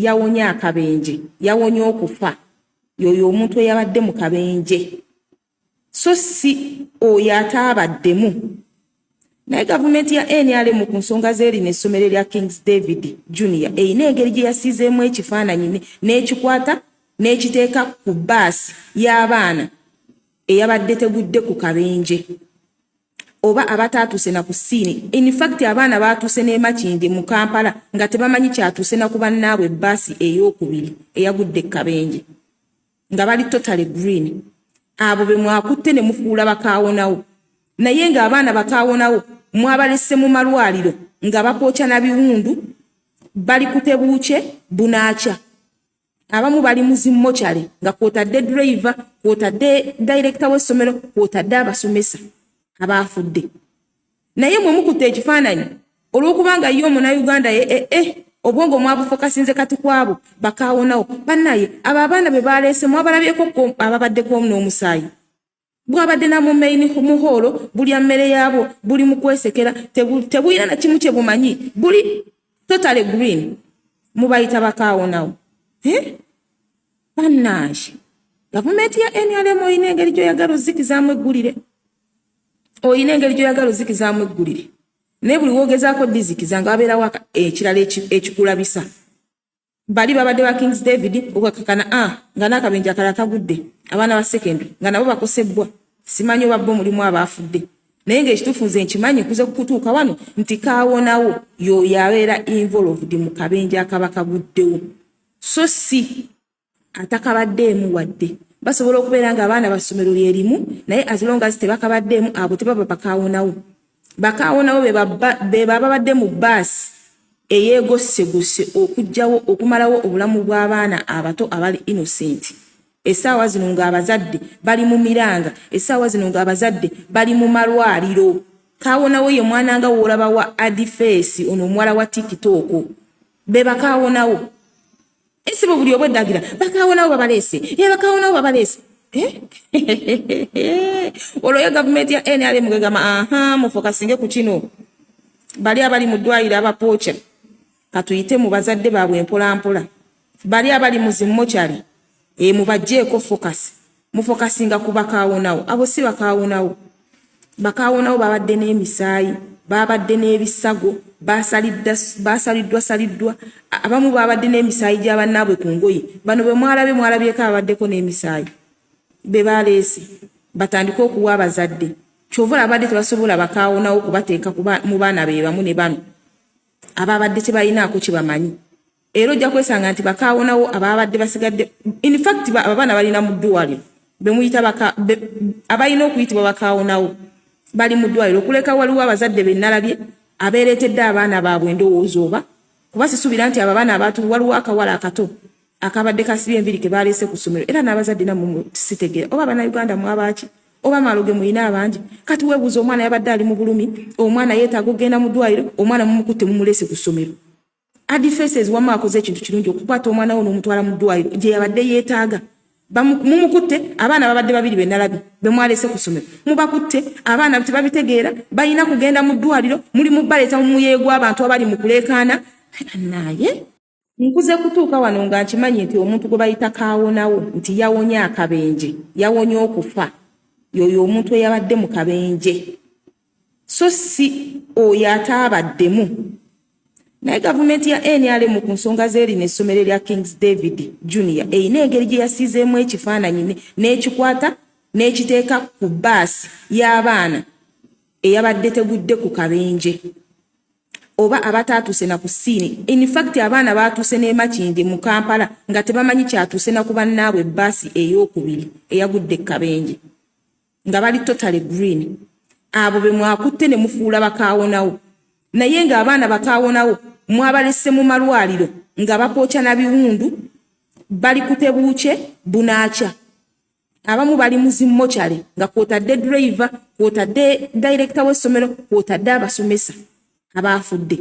yawonye akabenje yawonye okufa yoyo omuntu eyabadde mu kabenje so si oyo ataabaddemu naye gavumenti ya nrm ku nsonga zeeri n'essomero lya kings david junior erina engeri gye yasiizeemu ekifaananyi n'ekikwata n'ekiteeka ku baasi y'abaana eyabadde tegudde ku kabenje oba abataatuuse na ku siini in fact abaana baatuuse n'emakindi mu kampala nga tebamanyi kyatuuse na ku bannaabwe bbaasi ey'okubiri eyagudde ekabenje nga bali totale green abo be mwakutte ne mufuula bakaawonawo naye ng'abaana bakaawonawo mwabalese mu malwaliro nga bakookya na biwundu bali kutebuukye bunaakya abamu bali mu zimmokyale nga kwotadde driver kwotadde direkita w'essomero kwotadde abasomesa abaafudde naye mwe mukutte ekifaananyi olw'okubanga ye omunauganda ye ee eh, eh, obwongo mwabufokasinze kati kwabo bakaawonawo bannaye abo abaana be baleese mwabalabyeko ababaddekomu n'omusaayi bwabadde na mu main mu hall bulya mmere yaabwo buli mu kwesekera tebulina na kimu kye bumanyi buli totally green mubayita bakaawonawo eh? bannange gavumenti ya nrm olina engeri gyoyagala ozikizaamu eggulire olina engeri gyoyagala ozikizaamu eggulire naye buli wogezaako dizikiza nga wabeerawo ekirala ekikulabisa bali babadde ba Kings David okakakana a ah, nga n'akabenja kala kagudde abaana ba secondary nga nabo bakosebbwa simanyi oba bo mulimu abaafudde naye ng'ekituufu nze nkimanyi nkuze kukutuuka wano nti kaawonawo y'oyo abeera involved mu kabenja akaba kaguddewo so si atakabaddeemu wadde basobola okubeera ng'abaana ba ssomero lye limu naye as long as tebakabaddeemu abo tebaba bakaawonawo bakaawo nabo be bababadde mu bbaasi eyeegossegose okugyawo okumalawo obulamu bw'abaana abato abali innocent essaawa zino ng'abazadde bali mu miranga essaawa zino ng'abazadde bali mu malwaliro kaawonawo ye mwana nga woolaba wa adifeesi ono omuwala wa tikitooko be bakaawonawo esibo buli obweddagira bakaawonawo babaleese e bakaawonawo babaleese olwo ye gavumenti ya nrm gegamba aha mufokasinge ku kino bali abali mu ddwaliro abapooca katuyite mu bazadde baabwe mpolampola bali abali mu zimmokyali e mubajjeeko fokasi mufokasinga ku bakaawonawo abo si bakaawonawo bakaawonawo babadde n'emisaayi babadde n'ebisago basaliddwa saliddwa abamu babadde n'emisaayi gya bannaabwe ku ngoye bano bwe mwalabye mwalabyeko ababaddeko n'emisaayi be baleese batandike okuwa abazadde kyova olabadde tebasobola bakaawonawo kubateeka mu baana be bamu ne bano ababadde tebalinaako kye bamanyi era ojja kwesanga nti bakaawonawo abaabadde basigadde infact abaana balina mu ddwaliro bemuyita abalina okuyitibwa bakaawonawo bali mu ddwaliro okuleka waliwo abazadde benalabye abeereetedde abaana baabwe endowooza oba kuba sisuubira nti abo abaana abaatu waliwo akawala akato akabadde kasibye enviri ke baleese ku ssomero era n'abazadde namu sitegera oba banauganda mwabaaki oba maloge muyina abangi kati webuuza omwana yabadde ali mu bulumi omwana yeetaaga okugenda mu ddwaliro omwana mumukutte mumulese ku ssomero Adi Faces wamma akoze ekintu kirungi okukwata omwana wo n'omutwala mu ddwaliro gye yabadde yeetaaga. Mumukutte abaana babadde babiri be nalabi be mwalese ku ssomero. Mubakutte abaana tebabitegeera balina kugenda mu ddwaliro muli mu baleeta mu muyeeyo gw'abantu abali mu kuleekaana. Naye nkuze kutuuka wano nga nkimanyi nti omuntu gwe bayita kaawonawo nti yawonye akabenje yawonye okufa yoyo omuntu eyabadde mu kabenje. so si oyo ataabaddemu naye gavumenti ya nrm ku nsonga z'erino essomero lya kings david junior erina engeri gye yasiizeemu ekifaananyi n'ekikwata n'ekiteeka ku baasi y'abaana eyabadde tegudde ku kabenje oba abataatuuse na ku siini infact abaana baatuuse n'emakindi mu kampala nga tebamanyi kyatuuse na ku bannaabwe baasi ey'okubiri eyagudde ku kabenje nga bali totally green abo be mwakutte ne mufuula bakaawonawo naye nga abaana bakaawonawo mwabalese mu malwaliro nga bapooca na biwundu bali kutebuuce bunaaca abamu bali muzimmokyale nga kwotadde driver kwotadde dayirekita w'essomero kwotadde abasomesa abaafudde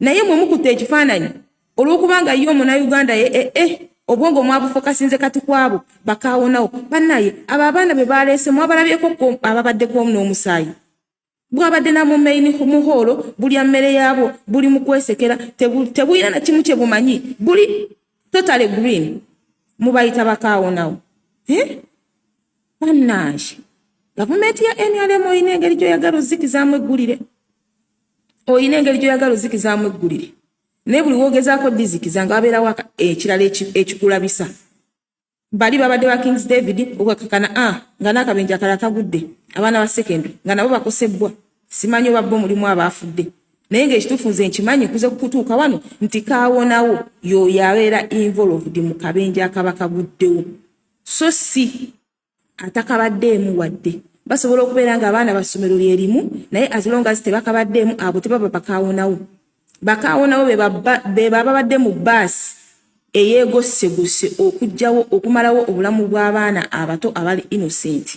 naye mwe mukutte ekifaananyi olwokubanga ye omunauganda ye ee eh, eh, obwongo mwabufokasinze kati kwabo bakaawonawo banaye abo abaana be baleese mwabalabyeko ababaddeko n'omusaayi bwabadde namumaini muhoolo bulya mmere yaabwo buli mu kwesekera tebulina na kimu kye bumanyi buli totale green mubayita bakaawonawo eh? banaye gavumenti ya nrm olina engeri gyoyagala ozikizamu eggulire olina engeri gyoyagala ozikizaamu eggulire naye buli wogezaako dizikiza nga wabeerawo ekirala ekikulabisa bali babadde ba kings david okakakana a ah, nga n'akabenja kala kagudde abaana ba secondary nga nabo bakosebbwa simanyi oba bo mulimu abaafudde naye ngaekituufu nze nkimanyi kuze kukutuuka wano nti kawonawo yoyo abeera involved mu kabenja akaba kaguddewo so si atakabaddeemu wadde basobola okubeera nga abaana ba ssomero lye limu naye as long as tebakabaddeemu abo tebaba bakaawonawo bakaawonawo be bababadde mu bbaasi eyeegossegose okugyawo okumalawo obulamu bw'abaana abato abali innocenti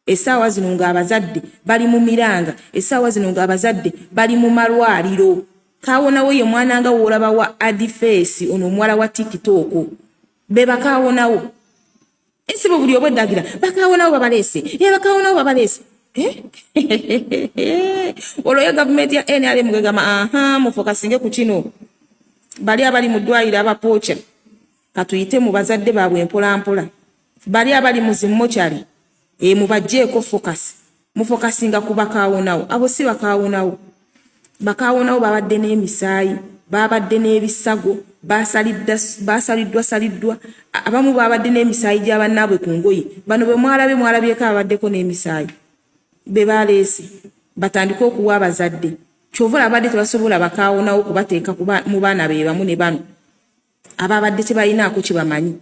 esaawa zino ng'abazadde bali mu miranga esaawa zino ng'abazadde bali mu malwaliro kaawonawo ye mwana nga woolaba wa adifeesi ono omuwala wa tikitooko be bakaawonawo esibo buli obweddagira bakaawonawo babaleese e bakaawonawo babaleese olwo ye gavumenti ya nrm gegamba aha mufokasinge ku kino bali abali mu ddwaliro abapooca katuyite mu bazadde baabwe mpolampola bali abali mu zimmokyali e mubajjeeko fokasi mufokasinga ku bakaawonawo abo si bakaawonawo bakaawonawo babadde n'emisaayi babadde n'ebisago basaliddwa saliddwa abamu babadde n'emisaayi gya bannaabwe ku ngoye bano bwe mwalabe mwalabyeko ababaddeko n'emisaayi be baleese batandike okuwa abazadde kyova olabadde tebasobola bakaawonawo kubateeka mu baana be bamu ne bano ababadde tebalinaako kyebamanyi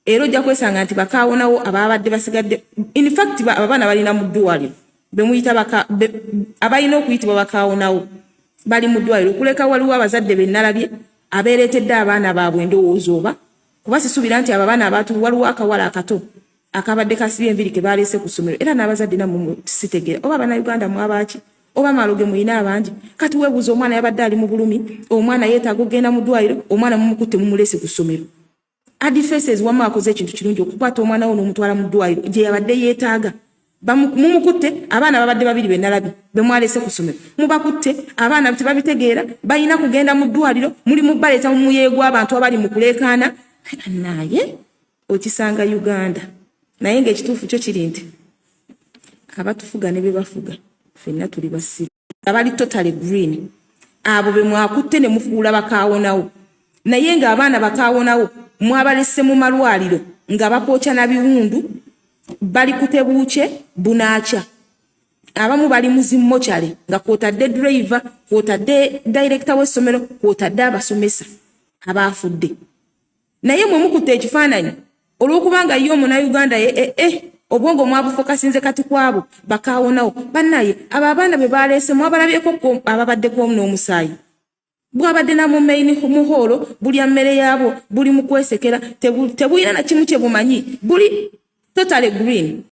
era ojja kwesanga nti bakaawonawo abaabadde basigadde infact abaana balina mu ddwaliro bemuyita abalina okuyitibwa bakaawonawo bali mu ddwaliro okuleka waliwo abazadde benalabye abeereetedde abaana baabwe endowooza oba kuba sisuubira nti abo abaana abaatu waliwo akawala akato akabadde kasibye enviri ke baleese ku ssomero era n'abazadde namu sitegera oba abanauganda mwabaaki oba maloge muyina abangi kati webuuza omwana yabadde ali mu bulumi omwana yeetaaga okugenda mu ddwaliro omwana mumukutte mumulese ku ssomero Adi Faces wamma akoze ekintu kirungi okukwata omwana wo n'omutwala mu ddwaaliro gye yabadde yeetaaga. Mumukutte abaana babadde babiri be nalabi be mwalese ku ssomero. Mubakutte abaana tebabitegeera balina kugenda mu ddwaaliro muli mu baleeta mu muyeeyo gw'abantu abali mu kuleekaana. Naye okisanga Uganda naye ng'ekituufu kyo kiri nti abatufuga ne be bafuga ffenna tuli basiru. nga bali totally green abo be mwakutte ne mufuula bakaawonawo naye ng'abaana bakaawonawo mwabalese mu malwaliro nga bapookya na biwundu bali kutebuukye bunaakya abamu bali mu zimmokyale nga kwotadde driver kwotadde dayirekita w'essomero kwotadde abasomesa abaafudde naye mwe mukutte ekifaananyi olwokubanga ye omunauganda ye eh, eh, eh, obwongo mwabufokasinze kati kwabo bakaawonawo bannaye abo abaana be baleese mwabalabyeko ababaddeko n'omusaayi bwabadde namumaini muhoolo bulya mmere yaabwo buli mukwesekera tebulina nakimu kye bumanyi buli totale green